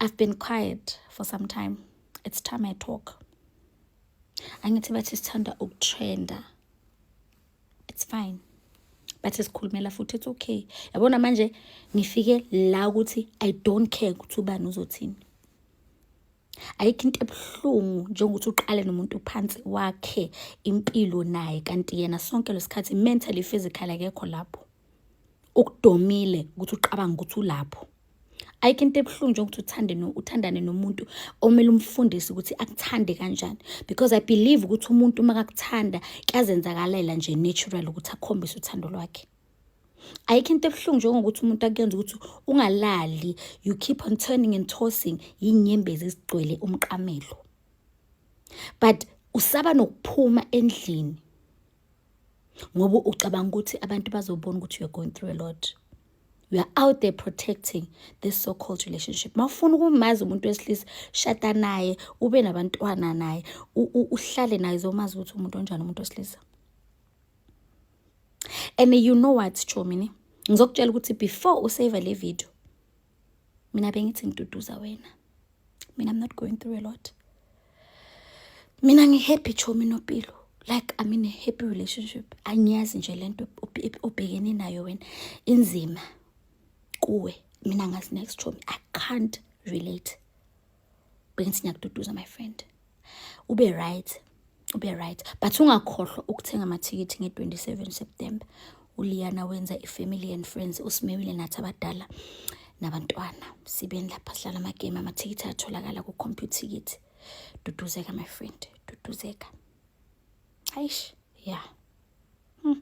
I've been quiet for some time. It's time I talk. Angithi bathi sithanda ukutrenda. It's fine. Bathi sikhulumela futhi it's okay. Yabona manje ngifike la ukuthi I don't care ukuthi ubani uzothini. ayikho into ebuhlungu njengokuthi uqale nomuntu phansi wakhe impilo naye kanti yena sonke lesikhathi mentally physical akekho lapho ukudomile ukuthi ucabanga ukuthi ulapho ayikho into ebuhlungu njengokuthi uthande no uthandane nomuntu omele umfundisi ukuthi akuthande kanjani because i believe ukuthi umuntu uma kakuthanda kuyazenzakalela nje natural ukuthi akhombise uthando lwakhe ayikho into ebuhlungu njengokuthi umuntu akuyenza ukuthi ungalali you keep on turning and tossing yinyembezi ezigcwele umqamelo but usaba nokuphuma endlini ngoba ucabanga ukuthi abantu bazobona ukuthi you're going through a lot you are out there protecting this so called relationship mawufuna ukumazi umuntu wesilisa shada naye ube nabantwana naye uhlale naye zomazi ukuthi umuntu onjani umuntu wesilisa and you know what chomini ngizokutshela ukuthi before usave le video mina bengithi ngiduduza wena mina i'm not going through a lot mina ngihappy chomi nopilo like i'm in a happy relationship angiyazi nje le nto obhekene nayo wena inzima kuwe mina ngazi next chomi i can't relate bengithi ngiyakududuza my friend ube right ube right but ungakhohlwa ukuthenga amathikithi nge-27 september uliyana wenza i-family and friends usimewile nathi abadala nabantwana sibeni lapha sidlala amagame amathikithi atholakala ku-computer ticket duduzeka my friend duduzeka hayish ya yeah. hmm.